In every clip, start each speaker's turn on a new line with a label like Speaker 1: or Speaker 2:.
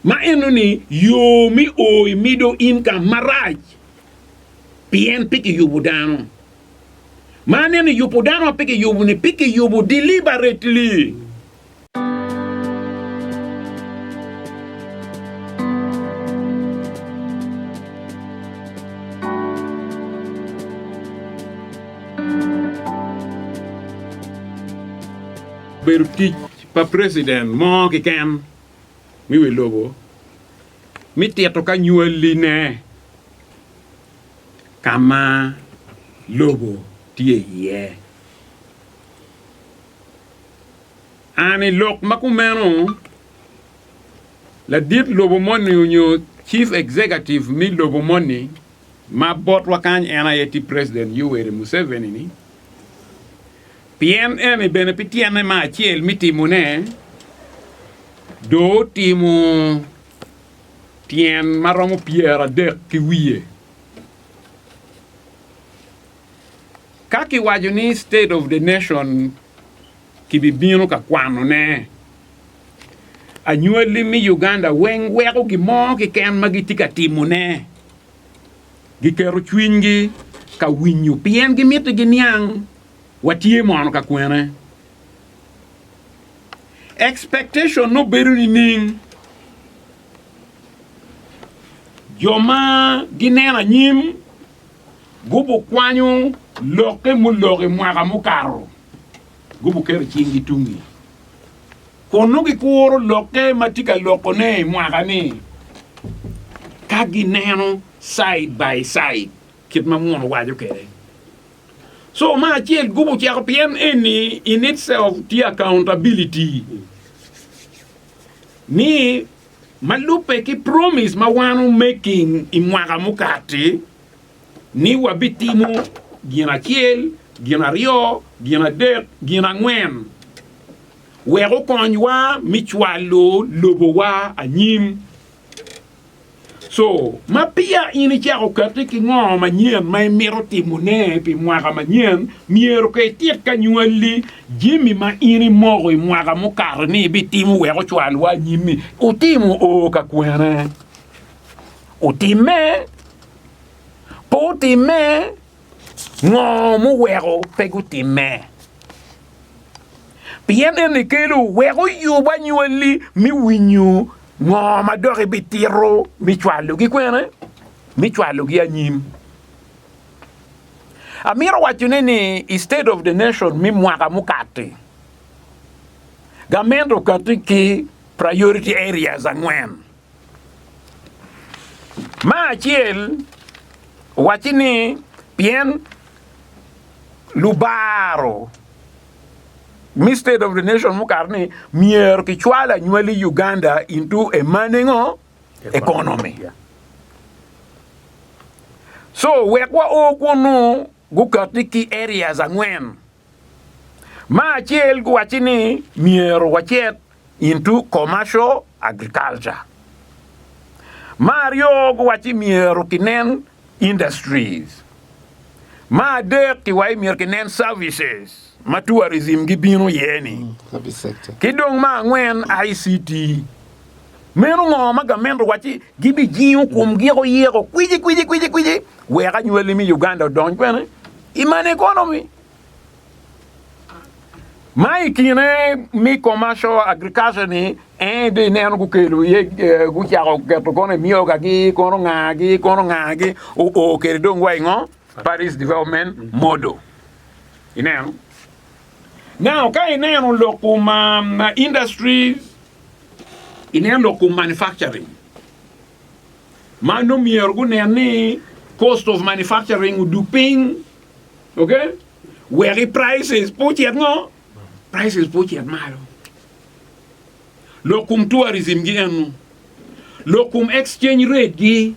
Speaker 1: Ma enoni yo me o i middle income marac pien pe kiyubo dano. Ma aneno yubo dano ma pe kiyubo ni pe kiyubo deliberately. pa preciden mo kiken mi wi lobo mi tito ka nywali ne ka ma lobo tye iye. An i lok ma kumeno, ladit lobo moni onyo chief executive mi lobo moni ma botwa kany en aye tye preciden Yoweri Museveni ni, Pien eni bene pi tyene ma acel mi timone, doo otimo tyen ma romo pyeradek ki wiye. Ka ki waco ni state of the nation ki bi bino ka kwano ne, anywali mi Uganda weng weko gi mo kiken ma gi tye ka timo ne gi keto cwiny gi ka winyo pien gi miti gi niang watye mono ka kwene. Expectation no bedo ni ning jo ma gineno anyim gubu kwanyo lokke mulok i mwaka mukato gubu keto cing gi tungi kun no gikuro lokke ma tye ka loko ne i mwaka ni ka gineno side by side kit ma muno waco kede. So ma acel gubo ceko pien eni in itself tye accountability ni ma lubbe ki promise ma wan o making i mwaka mukati ni wa bi timo gin acel gin aryo gin adek gin angwen wek okonywa mi cwalo lobo wa anyim. So, ma peya in icako kati ki ngo manyen ma imito timo ne pi mwaka manyen, myero ka itit ka nywalli, jemi ma in imoko i mwaka mukato ni ibi timo wek ocwal wa anyim ni utimo o ka kwene. Utimme? Pe utimme? Ngo muweko pe gutimme? pien eni kelo wek oyub anywalli me winyo ngo ma dok ibitito me cwalogi kwene, me cwalogi anyim. Amito wacone ni i state of the nation me mwaka mukati, gamente okati ki priority areas angwen. Me acel, owacci ni pien lubaro me state of the nation mukato ni myero kicwal anywali Uganda into a manengo economy so wek wa o kunu gukati ki areas angwen. Me acel giwacci ni myero wacit into commercial agriculture, me aryo giwacci myero kinen industries, me adek giwai myero kinen services ma tourism gibino iye-ni, ki
Speaker 2: dong me angwen
Speaker 1: ICT. Meno ngo ma gamente owacci gibijingo komgi eko yeko kwicikwici wek anywali me Uganda odony kwene? I man economy ma i kine mi commercial agriculture ni en dong ineno gukelo iye eh, gucako keto kono emyogagi kono ngagi kono ngagi oo kede dong wa ingo Paris Development Model ineno now ka ineno lok kum um, industries ineno lok kum manufacturing ma nongo myero gunen ni cost of manufacturing odug piny, okay? Wek i prices pe ocit ngo? Prices pe ocit malo. Lok kum tourism gi enu. Lok kum exchange rate gi,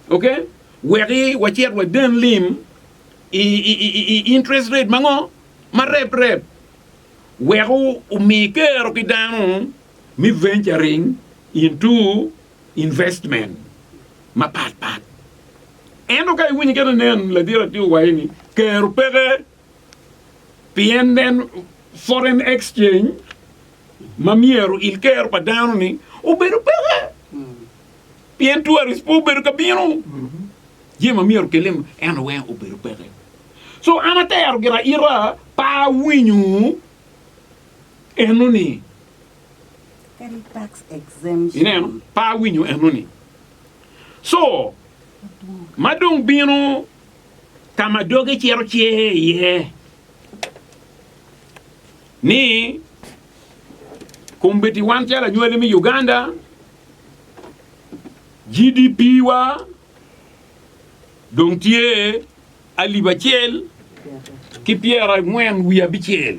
Speaker 1: okay? Wek i wacit waden lim i, i, i, i, i interest rate ma ngo? Ma rep rep. Wek omi kero ki dano me venturing into investment mapat pat. Ento ka iwinyo kene nen ladit atir waye ni kero peke pien nen foreign exchange ma myero il kero pa dano ni obedo peke pien tourist po obedo ka bino jami ma myero kele eno weng obedo peke so an atero gira ira pa awinyo eno ni
Speaker 2: Ineno? Pe awinyo
Speaker 1: enoni. Co ma dong bino ka ma doge cito cer iye ni kombeddi wan calo anywali me Uganda, GDP wa dong tye alip acel ki pyera angwen wiye abicel.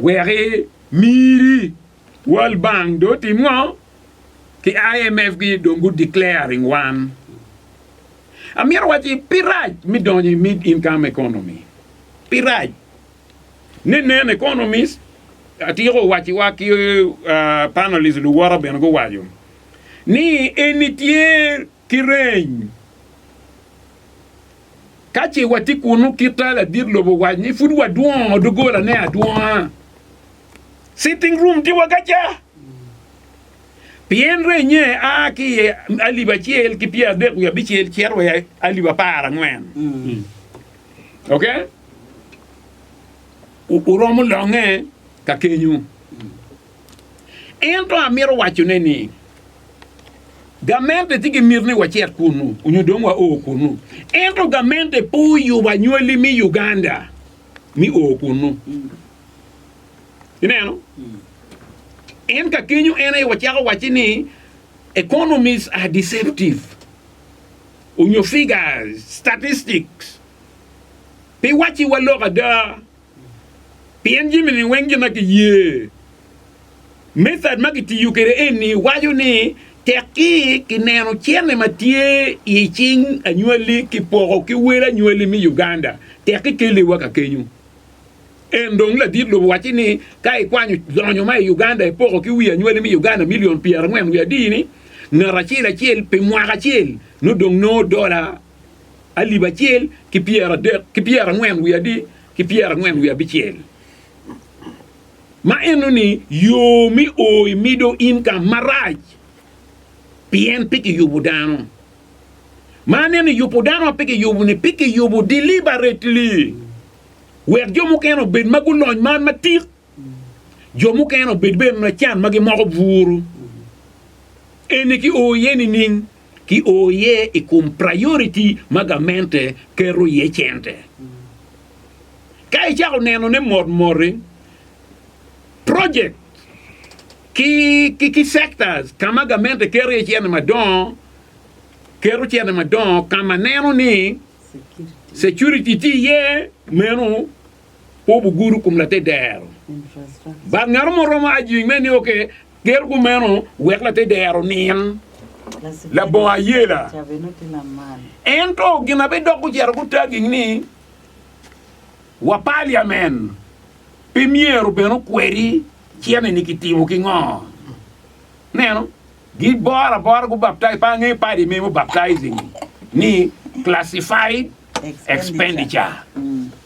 Speaker 1: Wek imiri World Bank dong otim ngo? Ki IMF gi dong gu declaring wan. Amito wacci pi rac mi donyo i mid income economy. Pi rac. Ne nen economist atyeko wacci wa ki panelist luwota bene guwaco ni eni tye ki reny. Ka ce watye kunnu kit ta ladit lobo owac ni pud wadwongo doggolane adwonga, sitting room tye wa kaca, pien renye a ki i alip acel ki pyeradek wiye abicel cito wa i alip apar angwen. Ok? Wu- Wuromo longe ka kenyu. Ento amito wacone ni, gamente tye ki miti ni wacit kunnu onyo dong wao kunnu. Ento gamente pe oyubo anywali me Uganda me o kunnu. Ineno? En ka kenyo en aye wacako wacci ni economists are deceptive onyo figures, statistics pe wacci wa lok ada. Pien jami-ni weng gin ma kiye. Method ma kitiyo kwede eni waco ni tek ki kineno cene ma tye i cing anywali kipoko ki wel anywali me Uganda tek ki kelle wa ka kenyo. En dong ladit lobo wacci ni ka ikwanyo lonyo ma i Uganda ipoko ki wi anywali me Uganda million pyera angwen wiye adi ni ngat acel acel pi mwaka acel nongo dong nongo dola alip acel ki pyeradek ki pyerangwen wiye adi ki pyerangwen wiye abicel, ma enoni yo me o i Middle Income marac, pien pe kiyubo dano. Ma aneno i yubo dano ma pe kiyubo-ni, pe kiyubo deliberately wek jo mukene obed ma gulony man matik, jo mukene obed bene ma can ma gimoko buru. Eni ki o iye nining? ki o iye i kom priority ma gamente keto iye cente. Ka icako nenone mot moti, project ki, ki, ki sectors ka ma gamente keto iye cente madongo, keto cente madongo ka ma neno ni security tye iye, meno Pu buguru kum later dero bad ngato mo romo ajing me nio ke ger kumeno wek later dero nin labongo ayela. Ento gin abe dok gucero gutaging ni wa paliamen pe myero bene okweri cene ni kitimo ki ngo. Neno, gi bora bora gu baptize pa ange padi memo baptizing ni classified expenditure.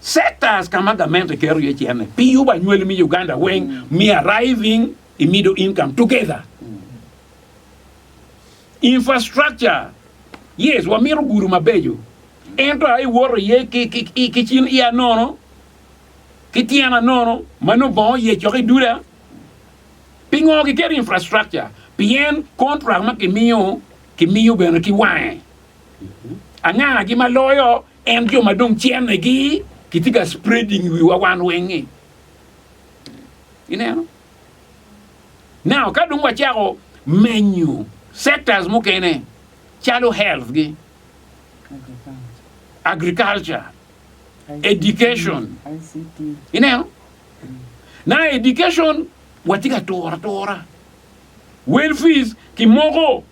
Speaker 1: sectors ka ma gamente keto iye cente pi yubo anywali me Uganda weng me arriving i middle income together infrastructure yes wamito gudo mabeco ento aye iwoto iye ki cin iya nono ki tyena nono ma nongo bongo oye cok i duda pingo giketo infrastructure pien contract ma kimiyo kimiyo bene ki wange angangagi ma loyo En jo ma dong cene gi kitye ka spreading iwiwa wan weng ni ineno. Now ka dong wacako menyo sectors mukene calo health gi, agriculture, education
Speaker 2: ineno.
Speaker 1: Now education watye ka turo atura, well fees kimoko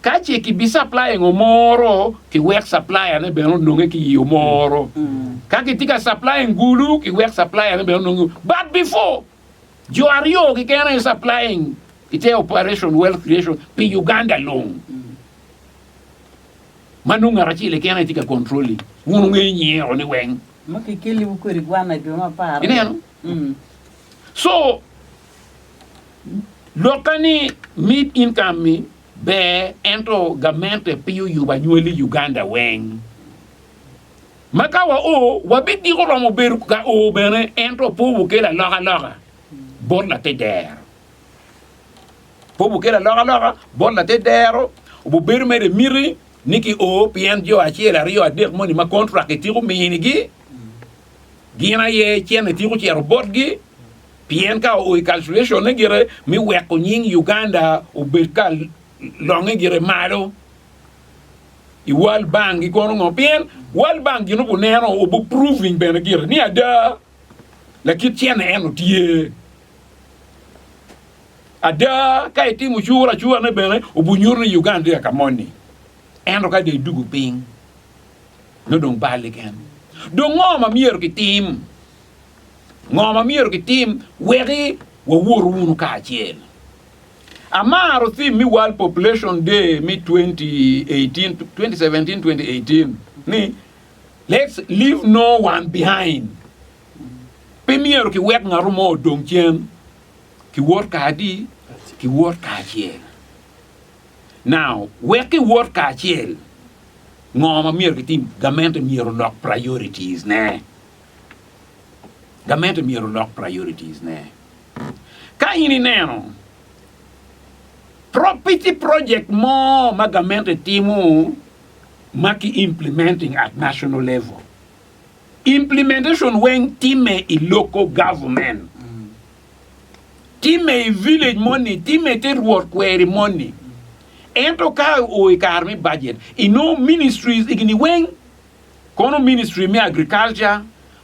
Speaker 1: ka ce ki bi supply ngo moro ki wek supplier ne bene ononge ki yo moro ka ki tye ka supplying gulu ki wek supplier ne bene ononge but before jo aryo ki kene aye supplying ki te operation wealth creation pi Uganda long ma nongo ngat acel keken aye tye ka controlling wun wungeyo nyinge o ni weng Ma kikeliwu kwede
Speaker 2: gwanna jo mapar. ineno
Speaker 1: so Lokke ni mid income ni ber ento gamente pe oyubo anywali i Uganda weng. Ma ka wa o wabidiko romo bedo ka o bene ento pe wukelo aloka loka bot late dero. Pe wukelo aloka loka bot late dero wubedo mere miti ni ki o pien jo acel aryo adek moni ma contract ityeko minigi gin aye cene tyeko cito botgi. Pien ka oo i calculation ne gire mi weko nying Uganda obed ka longe gire malo i world bank gi kono ngo pien world bank gin obu neno obu proving bene gire ni ada lakit cene en o tye ada ka i timo cura acura ne bene obu nyuto ni Uganda tye ka moni ento ka dong i dugu piny nongo dong balli kene dong ngo ma myero ki tim Ngo ma myero kitim wek wawot wunu kacel? Amaro thim me World Population Day me 2018, 2017-2018 ni Let's Leave No One Behind. Pe myero kiwek ngatu mo odong cen. Kiwot kadi, kiwot kacel. Now, wek kiwot kacel, ngo ma myero kitim? Gamente myero olok priorities ne. Gamente myero olok priorities ne. Ka in ineno property project mo ma gamente timo ma ki implementing at national level, implementation weng time i local government, time i village moni, time te rwot kweri moni. Ento ka o i kare me budget, inongo ministries egini weng kono ministry me agriculture,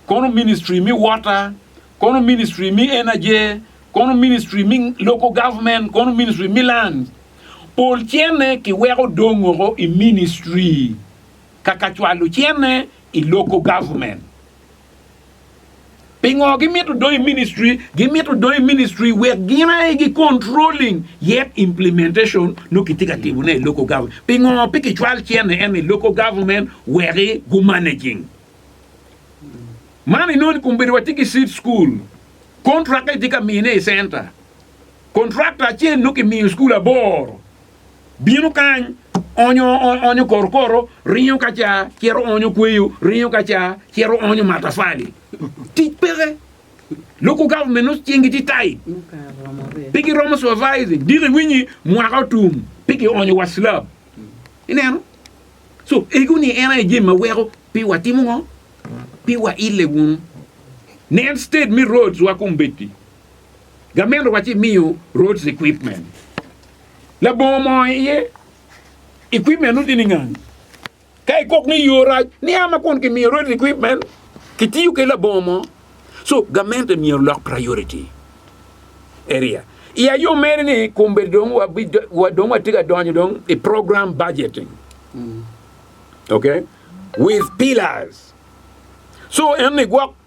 Speaker 1: kono ministry me water, kono ministry me energy, kono ministry me local government, kono ministry me lands. Pol cene kiweko dongoko i ministry kaka cwalo cene i local government. Pingo gimito dong i ministry? Gimito dong i ministry wek gin aye gi controlling yet implementation nongo kitye ka timone i local government. Pingo pe kicwal cene ene i local government weki gu managing? Man inoni kumbedo watye ki seed school. Contract kitye ka mine i center. Contractor acel nongo kimiyo school aboro. bino kany, onyo onyo korokoro, ringo ka ca, cito onyo kweyo, ringo ka ca, cito onyo matafali. Tic peke. Local government nongo cingi tye tight. Pe giromo supervising. Diki iwinyi mwaka otum pe kionyo wa slab. Ineno? So, ego ni en aye jami ma weko pe watimo ngo? Pe waile wunu. Nen state me roads wa kong bed-di. Gamente wa ci miyo roads equipment. Labongo mo iye equipment nu tye ningang. Ka ikok ni yo rac, niya ma kun kimiyo roads equipment, kitiyo ki labongo mo. So gamente myero lok priority area. I ayo mere ni kombe dong wabi wa dong watye ka donyo dong i program budgeting. Okay? With pillars. So en ni gwok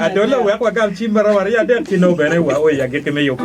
Speaker 3: Adolo wek wagam cim ma romo aryo adek ci nongo bene wa o i agikki me yubo.